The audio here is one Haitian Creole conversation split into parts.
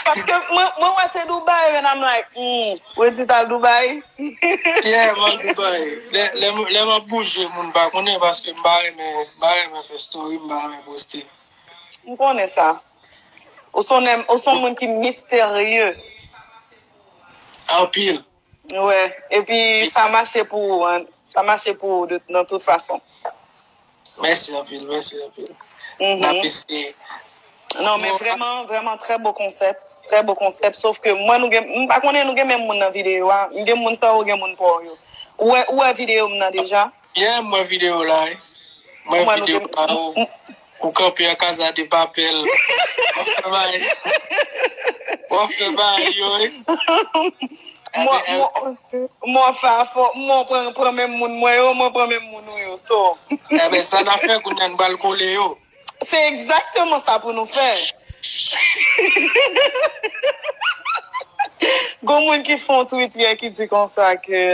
Paske mwen wè se Dubai and I'm like humm Wendy tal Dubai? Yeah m al Dubai. Lè m ap bouje moun pa konnen paske m pa renmen fè story, m pa renmen poste. M konnen sa. Ou son moun ki misterye. Anpil. Wè, epi sa mache pou ou an, sa mache pou ou nan tout fason. Mèsi anpil, mèsi anpil. N ap eseye. Non men vrèman, vrèman trè bon konsèp, trè bon konsèp, sof ke m wè nou gen, m pa konnen nou gen menm moun nan videyo a, m gen moun sa ou gen moun pa w yo. Ou wè, ou wè videyo m nan deja? Yeah m wè video la wi. M wè video la ou kanpe an casa de papel wap fè bagay wap fè bagay yo wi. M wè w fè a fò m wè w pran menm moun mwen yo m wè w pran menm moun ou yo so. Enben sa nap fè kounya n pral kole yo. Se egzakteman sa pou nou fè. Gon moun ki fon tweet yè ki di konsa ke.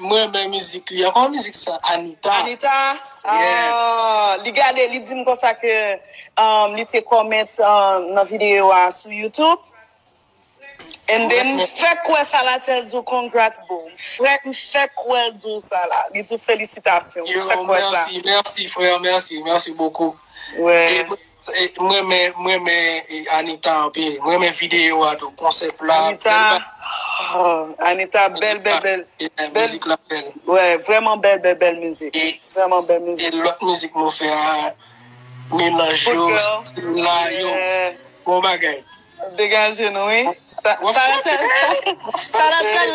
M renmen mizik li an. Kòman mizik sa Anita. Anita aah li gade li dim konsa ke li te comment nan video a sou YouTube and then m fèk wè sa la tel di w congrats boo m fèk m fèk wè l di w sa la li di w felisitasyon m fèk wè sa. Yo merci merci frère merci merci beaucoup. M renmen m renmen Anita anpil m renmen video a tou konsèp la Anita ah Anita bèl bèl bèl bèl mizik la bèl wè vrèman bèl bèl bèl mizik vrèman bèl mizik e lòt mizik nou fè a melanj yo stil la yo bon bagay. Degaje nou wi. Salatèl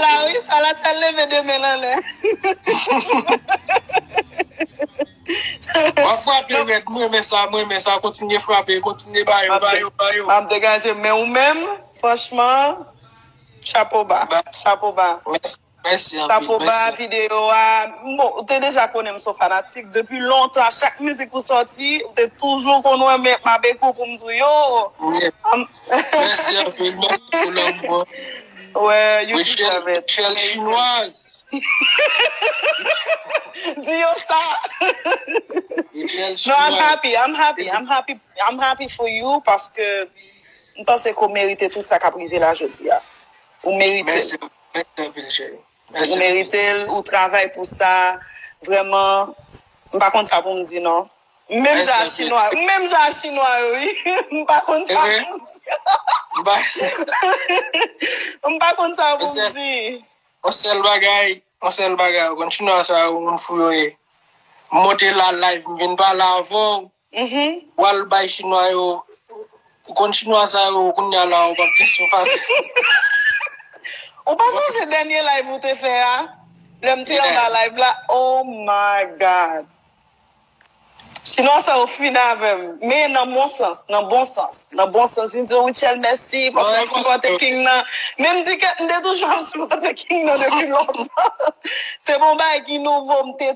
la wi. Salatèl leve de men l anlè. Wap frape rèd m renmen sa m renmen sa kontinye frape kontinye ba yo ba yo ba yo. Map degaje men ou menm franchman chapo ba chapo ba. Mèsi anpil. Chapo ba video a. Bon ou te deja konnen m son fanatik depi lontan chak mizik ou sòti ou te toujou konn wè m ap ekri w pou m di w yo. Mèsi anpil mèsi pou lanmou an. Rutshelle chinoise. Di yo sa. No I'm happy I'm happy I'm happy I'm happy for you paske m panse ke w merite tout sa k ap rive la jodi a. Ou merite. Mèt nan vil je yo. Ou merite l, ou travay pou sa, vrèman m pa konn sa pou m di non. M menm jan a chinwa yo, m menm jan a chinwa yo wi, m pa konn sa pou m di. M pa konn sa pou m di. Yon sèl bagay, yon sèl bagay ou konn chinwa sa yo moun fou yo ye. M monte la live m vin pale avè w. Wal bay chinwa yo ou konn chinwa sa yo kounya la ou pap gen sou pase. Ou pa sonje dènye live ou te fè a lèm te anba live la oh my God chinwa sa yo fin avèm men nan bon sans nan bon sans nan bon sans vin diw Rutshelle mèsi paske wap sipòte king nan menm di ket mte toujou ap sipòte king nan depi lontan se pa yon bagay ki nouvo mte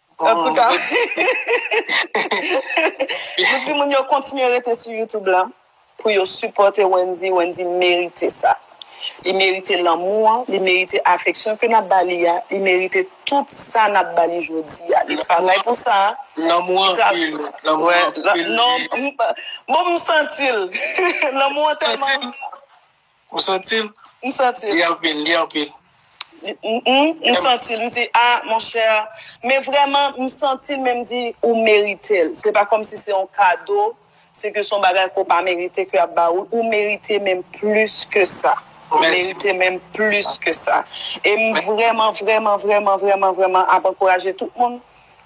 Antouka, nou di moun yo kontinye rete sou YouTube la pou yo sipòte Wendy. Wendy merite sa. Li merite lanmou an, li merite afeksyon ke n ap ba li a, li merite tout sa n ap ba li jodi a. Li travay pou sa. Lanmou an anpil. Lanmou an anpil. Bon, m santi l. Lanmou an tèlman. Ou santi l? M santi l. Li anpil, li anpil. Mph, m santi l, m di, a, monchè, men vrèman, m santi l, men m di, ou merite l. Se pa kòmsi se yon kado, se ke se yon bagay ke w pa merite ke y ap ba ou l. Ou merite menm plis ke sa. Ou merite menm plis ke sa. E m vrèman, vrèman, vrèman, vrèman, vrèman ap ankouraje tout moun,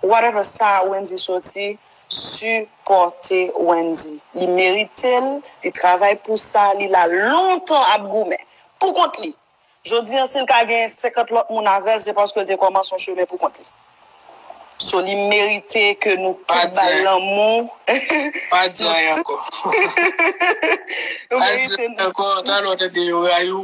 whatever sa Wendyy soti, Sipòte Wendy li meritel li travay pou sa li la lontan ap goumen pou kont li jodi an sil ka gen 50 lòt moun avèl se paske li te kòmanse yon chemen pou kont li so li merite ke nou tout bal lanmou pa di anyen ankò pa di anyen ankò talè wap tande yo rayiw.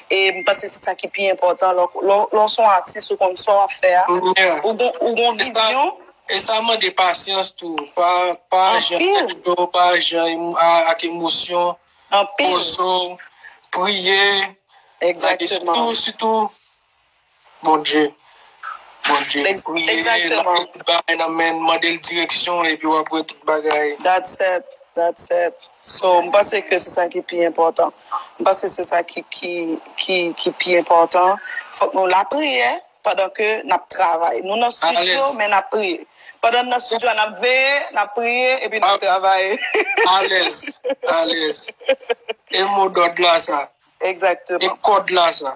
E m panse se sa ki pi enpòtan lè w se yon atis ou konn sa w ap fè a, ou gen yon vizyon. E sa mande pasyans tou, pa aji ak tèt cho, pa aji ak emosyon, poze w, priye, lage sou tou. Bondye Bondye priye exactement tout bagay nan menn mandel direksyon epi wap wè tout bagay. That's it that's it so m panse ke se sa ki pi enpòtan m panse se sa ki ki ki ki pi enpòtan fòk nou lapriyè pandan ke nap travay nou nan studio men nap priye pandan n nan studio a nap veye nap priye epi nap travay alèz alèz e modòd la sa exactement e kòd la sa.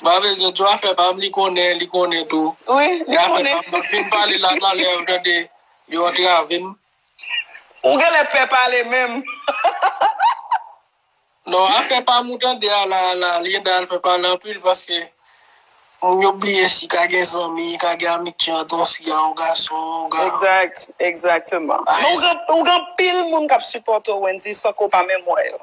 Mpa bezwen tou afè pam li konnen li konnen tou. Wi, li konnen. Afè pam map vin pale la nan lè ou tande yo antrave m. Ou genlè pè pale menm. Non afè pam ou tande a la la Liénda al fè pale anpil paske moun yo bliye si ka gen zanmi, ka gen amitye ant yon fi a yon gason. Exact, exactement. Ou gen anpil moun kap sipòte w Wendy san ke w pa menm wè yo.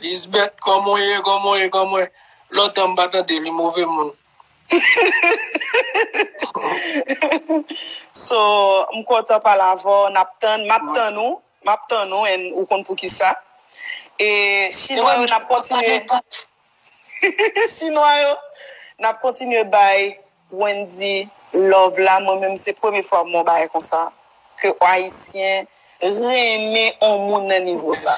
Lisbeth koman w ye koman w ye koman w ye lontan m pa tande li move moun. So m kontan pale avè w nap tann map tann ou map tann ou and ou konn poukisa e chinwa yo nap kontinye chinwa yo nap kontinye bay Wendy love la mwen menm se premye fwa m wè yon bagay konsa ke ayisyen renmen on moun nan nivo sa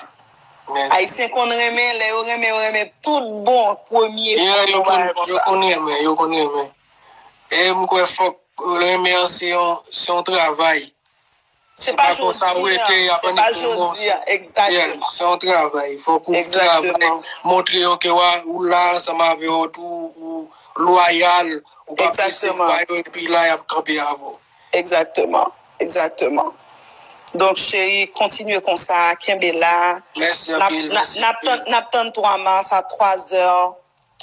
ayisyen konn renmen lè yo renmen yo renmen tout bon premye fwa m wè yon bagay konsa yo konn renmen yo konn renmen e m kwè fòk renmen an se yon travay Se pa jodi a, exactement. Se yon travay, fok ou travay, montre yo ke ou la ansanm avè yo, ou loyal, ou pa prese kwa yo, epi la yap kanpe avè w. Exactement, exactement. Donk cheri, kontinye konsa, kenbe la. Mèsi anpil, mèsi anpil. Nap tann 3 mars a 3 zè,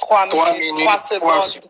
3 minit, 3 segond.